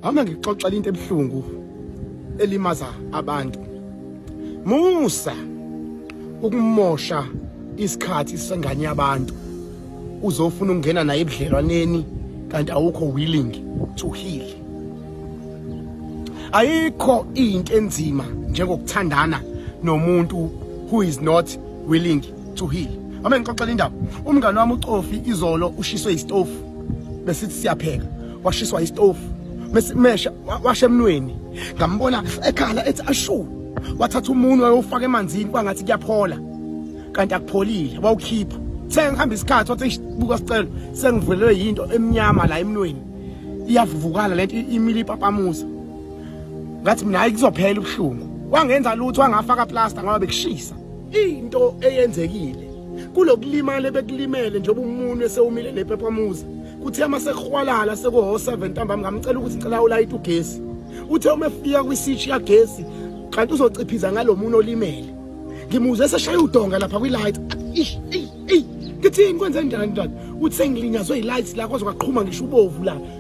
Hamba ngixoxela into ebuhlungu elimaza abantu. Musa ukumosha isikhathi sengane yabantu. Uzofuna ukungena naye ebudlelwaneni kanti awukho willing to heal. Ayikho into enzima njengokuthandana nomuntu who is not willing Juhile. Ame ngixoxela indaba. Umngane wami uCofi izolo ushiswe istofu. Besithi siyapheka. Washiswa istofu. Mesimesha washe emnweni. Ngambona ekhala ethi ashu. Wathatha umunwe wayofaka emanzini kwangathi kuyaphola. Kanti akupholile. Wawukhipha. Sengihamba isikhathi wathi buka sicelo sengivulelwe yinto emnyama la emnweni. Iyavuvukala lento imili ipapamuza. Ngathi mina hayi kuzophela ubuhlungu. Wangenza lutho angafaka plaster ngoba bekushisa. Into eyenzekile kulokulimala ebekulimele njengoba umuntu esewumile nephephamuzi kuthe uma sekuhwalala sekuho-7 ntambama ngamcela ukuthi ngicela ulayite ugesi uthe uma efika kwisitshi kagesi kanti uzociphiza ngalo muntu olimele ngimuzwe eseshaya udonga lapha kwi-light ngithini kwenze njani njani uthi sengilinyazwe yi-light la kwaze kwaqhuma ngisho ubovu la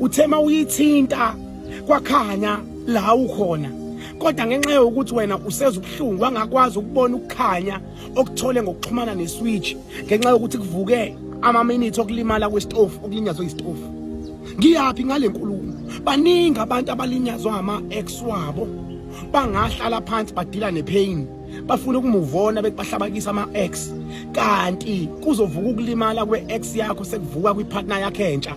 uthe uma uyithinta kwakhanya la ukhona kodwa ngenxa yokuthi wena useza ubuhlungu wangakwazi ukubona ukukhanya okuthole ngokuxhumana neswitch ngenxa yokuthi kuvuke amaminithi okulimala kwesitofu okulinyazwe isitofu ngiyaphi ngale nkulumo baningi abantu abalinyazwa ama-ex wabo bangahlala phansi badila nepain bafuna ukumuvona bethi bahlabakisa ama-ex kanti kuzovuka ukulimala kwe-ex yakho sekuvuka kwipartner yakhe entsha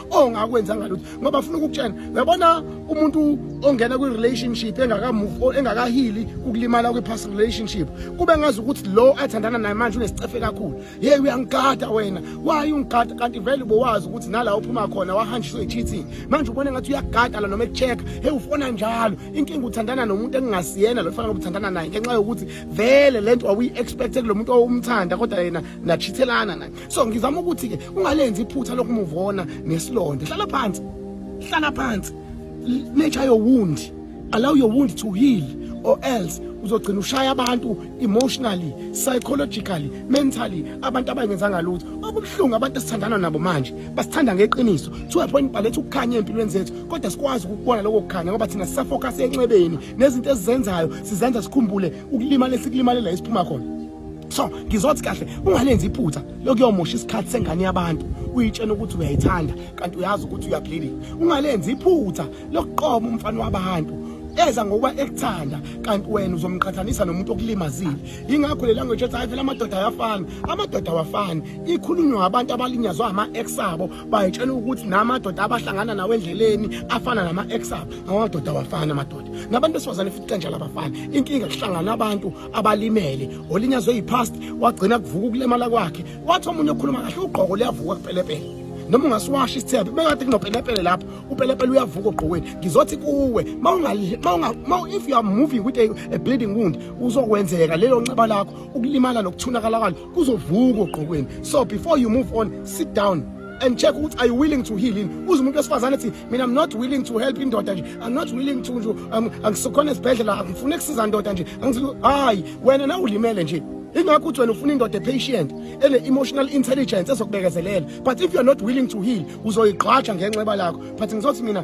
ongakwenza ngalutho ngoba afuna ukukutshena uyabona umuntu ongena kwi relationship engaka move or engakahili ukulimala kwi past relationship kube ngazi ukuthi lo athandana naye manje unesicefe kakhulu hey uyangigada wena why ungigada kanti vele ubowazi ukuthi nala uphuma khona wahanjiswe cheating manje ubone ngathi uyagada la noma echeck hey ufona njalo inkinga uthandana nomuntu engingasiyena lo fanele uthandana naye ngenxa yokuthi vele lento awuyi expect kulo muntu owumthanda kodwa yena nachithelana naye so ngizama ukuthi ke ungalenzi iphutha lokumuvona nesilonda hlala phansi hlala phansi nature your wound allow your wound to heal or else uzogcina ushaya abantu emotionally psychologically mentally abantu abangenzanga lutho okubuhlungu abantu esithandana nabo manje basithanda ngeqiniso to a point baletha ukukhanya empilweni zethu kodwa sikwazi ukubona lokho kukhanya ngoba thina sisafocus enxebeni nezinto esizenzayo sizenza sikhumbule ukulimala esikulimalela isiphuma khona so ngizothi kahle ungalenzi iphutha lokuyomosha isikhathi sengane yabantu uyitshena ukuthi uyayithanda kanti uyazi ukuthi uyaphilile ungalenzi iphutha lokuqoma umfana wabantu eza ngokuba ekuthanda kanti wena uzomqhathanisa nomuntu okulimazile yingakho le language ethi hayi phela amadoda ayafana amadoda awafani ikhulunywa ngabantu abalinyazwa ama-ex abo bayitshela ukuthi namadoda abahlangana nawo endleleni afana nama-ex abo ngamadoda awafani amadoda nabantu besifazane futhi kanjalo abafani inkinga kuhlangana abantu abalimele olinyazwe yipast wagcina kuvuka ukulimala kwakhe wathi omunye okhuluma kahle ugqoko liyavuka kupelepele noma ungasiwasha isithebe bekade kunopelepele lapho upelepele uyavuka ogqokweni ngizothi kuwe if you are moving with a, a bleeding wound uzokwenzeka lelo nxeba lakho ukulimala nokuthunakala kwalo kuzovuka ogqokweni so before you move on sit down and check ukuthi are you willing to heal in uze umuntu wesifazane ethi mina i'm not willing to help indoda nje i'm not willing to nje um, angisikhona esibhedlela angifuni kusiza ndoda nje hayi wena na ulimele nje ingakho uthi wena ufuna indoda epatient ene-emotional intelligence ezokubekezelela but if you're not willing to heal uzoyigqwaja ngenxeba lakho but ngizothi mina